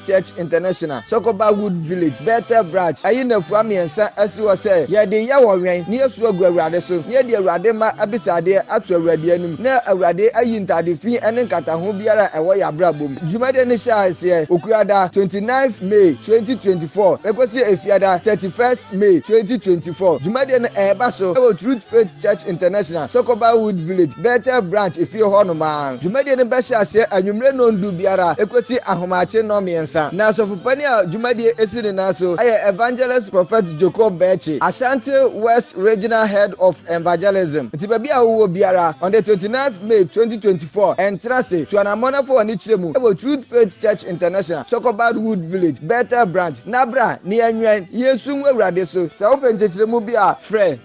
Church International, Sokoba Wood Village, Bethel Branch, ayi nnafua mmiɛnsa asi hɔ sɛ yɛde yɛ Ɔwɛn, na yɛsu agu Awurade so, na yɛde Awurade mma abisadeɛ ato Awurade anim, na Awurade ayi ntade fi ne nkataho biara a ɛwɔ yɛn abrabɔ mu. Dwumadie no hyɛ aseɛ Okuada, 29th May, 2024, bɛkɔsi Efiada, 31st May, 2024. Dwumadie no ɛreba so wɔ Truth Faith. Church International, Sokoba Wood Village, Bethel Branch efie hɔ nom a. Dwumadie no bɛhyɛ aseɛ anwummerɛ nnɔndu biara ɛkɔsi ahomakye nnɔnmiɛnsa. Na Asɔfopanin a dwumadie ɛsi ne nan so yɛ Evangelist Prophet Joko Bɛɛkye, Ashanti West Regional Head of Envagelism. Nti baabi a wowɔ biara, on the 29th May 2024, ntena ase, tu anammɔn na fa w'ani kyerɛ mu wɔ Truth Faith Church International, Sokoba Wood Village, Bethel Branch, na bra na yɛnwɛn, yɛnsu ngu Awurade so. Sɛ wopɛ nkyɛkyerɛmu bi a, frɛ.